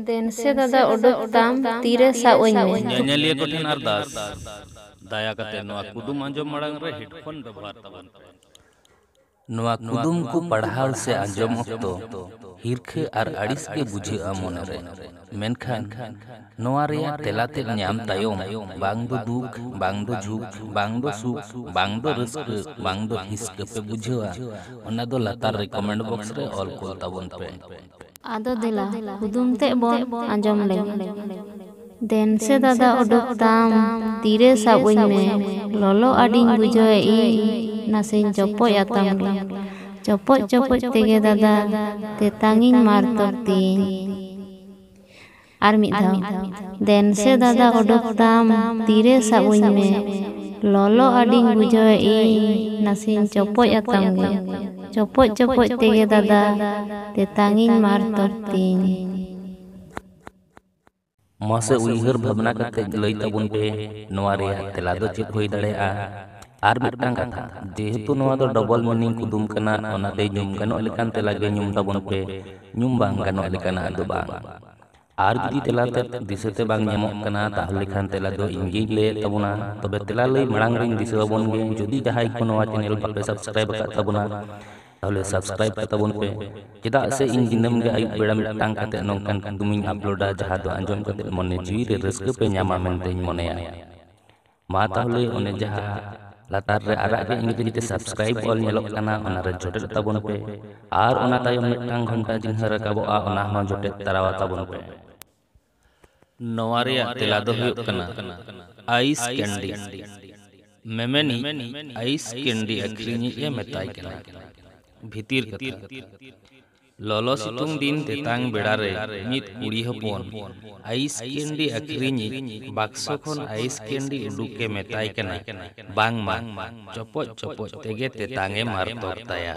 ᱫᱮᱱᱥᱮ ᱫᱟᱫᱟ ᱚᱰᱚᱠ ᱛᱟᱢ ᱛᱤᱨᱮ ᱥᱟᱵ ᱟᱹᱧ ᱢᱮ᱾ ᱧᱮᱧᱮᱞᱤᱭᱟᱹ ᱠᱚ ᱴᱷᱮᱱ ᱟᱨᱫᱟᱥ, ᱫᱟᱭᱟ ᱠᱟᱛᱮ ᱱᱚᱣᱟ ᱠᱩᱫᱩᱢ ᱟᱸᱡᱚᱢ ᱢᱟᱲᱟᱝ ᱨᱮ ᱦᱮᱰᱯᱷᱳᱱ ᱵᱮᱵᱚᱦᱟᱨ ᱛᱟᱵᱚᱱ ᱯᱮ᱾ ᱱᱚᱣᱟ ᱠᱩᱫᱩᱢ ᱠᱚ ᱯᱟᱲᱦᱟᱣ ᱥᱮ ᱟᱸᱡᱚᱢ ᱚᱠᱛᱚ ᱦᱤᱨᱠᱷᱟᱹ ᱟᱨ ᱟᱹᱲᱤᱥ ᱜᱮ ᱵᱩᱡᱷᱟᱹᱜᱼᱟ ᱢᱚᱱᱮ ᱨᱮ᱾ ᱢᱮᱱᱠᱷᱟᱱ ᱱᱚᱣᱟ ᱨᱮᱭᱟᱜ ᱛᱮᱞᱟ ᱛᱮᱫ ᱧᱟᱢ ᱛᱟᱭᱚᱢ ᱵᱟᱝ ᱫᱚ ᱫᱩᱠ, ᱵᱟᱝ ᱫᱚ ᱡᱷᱩᱠ, ᱵᱟᱝ ᱫᱚ ᱥᱩᱠ, ᱵᱟᱝ ᱫᱚ ᱨᱟᱹᱥᱠᱟᱹ, ᱵᱟᱝ ᱫᱚ ᱦᱤᱸᱥᱠᱟᱹ ᱯᱮ ᱵᱩᱡᱷᱟᱹᱣᱟ ᱚᱱᱟ ᱫᱚ ᱞᱟᱛᱟᱨ ᱨᱮ ᱠᱚᱢᱮᱱᱴ ᱵᱚᱠᱥ ᱨᱮ ᱚᱞ ᱠᱩᱞ ᱛᱟᱵᱚᱱ ᱯᱮ᱾ ᱟᱫᱚ ᱫᱮᱞᱟ ᱠᱩᱫᱩᱢ ᱛᱮᱫ ᱵᱚᱱ ᱟᱸᱡᱚᱢ ᱞᱮᱜᱮ᱾ ᱫᱮᱱ ᱥᱮ ᱫᱟᱫᱟ ᱚᱰᱚᱠ ᱛᱟᱢ ᱛᱤᱨᱮ ᱥᱟᱵ ᱟᱹᱧ ᱢᱮ ᱞᱚᱞᱚ ᱟᱹᱰᱤᱧ ᱵᱩᱡᱷᱟᱹᱣᱮ ᱤᱧ ᱱᱟᱥᱮᱧ ᱪᱚᱯᱚᱡ ᱟᱛᱟᱢ ᱜᱮ᱾ ᱪᱚᱯᱚᱡ ᱪᱚᱯᱚᱡ ᱛᱮᱜᱮ ᱫᱟᱫᱟ ᱛᱮᱛᱟᱝᱤᱧ ᱢᱟᱨᱛᱚᱠ ᱛᱤᱧ᱾ ᱟᱨ ᱢᱤᱫ ᱫᱷᱟᱣ ᱫᱮᱱ ᱥᱮ ᱫᱟᱫᱟ ᱚᱰᱚᱠ ᱛᱟᱢ ᱛᱤᱨᱮ ᱥᱟᱵ ᱩᱧ ᱢᱮ ᱞᱚᱞᱚ ᱟᱹᱰᱤᱧ ᱵᱩᱡᱷᱟᱹᱣᱮ ᱤᱧ ᱱᱟᱥᱮᱧ ᱪᱚᱯᱚᱡ ᱟᱛᱟᱢ ᱜᱮ ᱪᱚᱯᱚᱡ ᱪᱚᱯᱚᱡ ᱛᱮᱜᱮ ᱫᱟᱫᱟ ᱛᱮᱛᱟᱝ ᱤᱧ ᱢᱟᱨ ᱛᱚᱨ ᱛᱤᱧ᱾ ᱢᱟᱥᱮ ᱩᱭᱦᱟᱹᱨ ᱵᱷᱟᱵᱽᱱᱟ ᱠᱟᱛᱮ ᱞᱟᱹᱭ ᱛᱟᱵᱚᱱ ᱯᱮ ᱱᱚᱣᱟ ᱨᱮᱭᱟᱜ ᱛᱮᱞᱟ ᱫᱚ ᱪᱮᱫ ᱦᱩᱭ ᱫᱟᱲᱮᱭᱟᱜᱼᱟ? ᱟᱨ ᱢᱤᱫᱴᱟᱝ ᱠᱟᱛᱷᱟ ᱡᱮᱦᱮᱛᱩ ᱱᱚᱣᱟ ᱫᱚ ᱰᱚᱵᱚᱞ ᱢᱤᱱᱤᱝ ᱠᱩᱫᱩᱢ ᱠᱟᱱᱟ ᱚᱱᱟᱛᱮ ᱧᱩᱢ ᱜᱟᱱᱚᱜ ᱞᱮᱠᱟᱱ ᱛᱮᱞᱟ ᱜᱮ ᱧᱩᱢ ᱛᱟᱵᱚᱱ ᱯᱮ ᱧᱩᱢ ᱵᱟᱝ ᱜᱟᱱᱚᱜ ᱞᱮᱠᱟᱱᱟᱜ ᱫᱚ ᱵᱟᱝ ᱟᱨ ᱡᱩᱫᱤ ᱛᱮᱞᱟ ᱛᱮᱫ ᱫᱤᱥᱟᱹᱛᱮ ᱵᱟᱝ ᱧᱟᱢᱚᱜ ᱠᱟᱱᱟ ᱛᱟᱦᱚᱞᱮ ᱠᱷᱟᱱ ᱛᱮᱞᱟ ᱫᱚ ᱤᱧ ᱜᱤᱧ ᱞᱟᱹᱭᱮᱫ ᱛᱟᱵᱚᱱᱟ ᱛᱚᱵᱮ ᱛᱮᱞᱟ ᱞᱟᱹᱭ ᱢᱟᱲᱟᱝ ᱨᱤᱧ ᱫᱤᱥᱟᱹ ᱟᱵᱚᱱ ᱜᱮ ᱡᱩᱫᱤ ᱡᱟᱦᱟᱸᱭ ᱠᱚ ᱱᱚᱣᱟ ᱪᱮᱱᱮᱞ ᱵᱟᱯᱮ ᱥᱟᱵᱥᱠᱨᱟᱭᱤᱵ ᱟᱠᱟᱫ ᱛᱟᱵᱚᱱᱟ ᱛᱟᱦᱚᱞᱮ ᱥᱟᱵᱥᱠᱨᱟᱭᱤᱵ ᱠᱟᱜ ᱛᱟᱵᱚᱱ ᱯᱮ ᱪᱮᱫᱟᱜ ᱥᱮ ᱤᱧ ᱫᱤᱱᱟᱹᱢ ᱜᱮ ᱟᱹᱭᱩᱵ ᱵᱮᱲᱟ ᱢᱤᱫᱴᱟᱝ ᱠᱟᱛᱮ ᱱᱚᱝᱠᱟᱱ ᱠᱩᱫᱩᱢᱤᱧ ᱟᱯᱞᱳᱰᱟ ᱡᱟᱦᱟᱸ ᱫᱚ ᱟᱸᱡᱚᱢ ᱠᱟᱛᱮ ᱢᱚᱱᱮ ᱡᱤᱣᱤ ᱨᱮ ᱨᱟᱹᱥᱠᱟᱹ ᱯᱮ ᱧᱟᱢᱟ ᱢᱮᱱᱛᱮᱧ ᱢᱚᱱᱮᱭᱟ ᱢᱟ ᱛᱟᱦᱚᱞᱮ ᱚᱱᱮ ᱡᱟᱦᱟᱸ ᱞᱟᱛᱟᱨ ᱨᱮ ᱟᱨᱟᱜ ᱜᱮ ᱤᱝᱨᱮᱡᱤ ᱛᱮ ᱥᱟᱵᱥᱠᱨᱟᱭᱤᱵ ᱚᱞ ᱧᱮᱞᱚᱜ ᱠᱟᱱᱟ ᱚᱱᱟ ᱨᱮ ᱡᱚᱴᱮᱫ ᱛᱟᱵᱚᱱ ᱯᱮ ᱟᱨ ᱚᱱᱟ ᱛᱟᱭᱚᱢ ᱢᱤᱫᱴᱟᱝ ᱜᱷᱚᱱᱴᱟ ᱪᱤᱱᱦᱟᱹ ᱨᱟᱠᱟᱵᱚᱜᱼᱟ ᱚᱱᱟ ᱦᱚᱸ ᱡᱚᱴᱮᱫ ᱛᱟᱨᱟᱣᱟ ᱛᱟᱵᱚᱱ ᱯᱮ ᱱᱚᱣᱟ ᱨᱮᱭᱟᱜ ᱛᱮᱞᱟ ᱫᱚ ᱦᱩᱭᱩᱜ ᱠᱟᱱᱟ ᱟᱭᱤᱥ ᱠᱮᱱᱰᱤ ᱢᱮᱢᱮᱱᱤ ᱟᱭᱤᱥ ᱠᱮᱱᱰᱤ ᱟᱹᱠᱷᱨᱤᱧᱤᱡ ᱮ ᱢᱮᱛᱟᱭ ᱠᱟᱱᱟ ᱵᱷᱤᱛᱤᱨ ᱠᱟᱛᱷᱟ ᱞᱚᱞᱚ ᱥᱤᱛᱩᱝ ᱫᱤᱱ ᱛᱮᱛᱟᱝ ᱵᱮᱲᱟ ᱨᱮ ᱢᱤᱫ ᱠᱩᱲᱤ ᱦᱚᱯᱚᱱ ᱟᱭᱤᱥ ᱠᱮᱱᱰᱤ ᱟᱹᱠᱷᱨᱤᱧᱤᱡ ᱵᱟᱠᱥᱚ ᱠᱷᱚᱱ ᱟᱭᱤᱥ ᱠᱮᱱᱰᱤ ᱩᱰᱩᱠ ᱮ ᱢᱮᱛᱟᱭ ᱠᱟᱱᱟ ᱵᱟᱝ ᱢᱟ ᱪᱚᱯᱚᱡ ᱪᱚᱯᱚᱡ ᱛᱮᱜᱮ ᱛᱮᱛᱟᱝ ᱮ ᱢᱟᱨᱛᱚᱠ ᱛᱟᱭᱟ᱾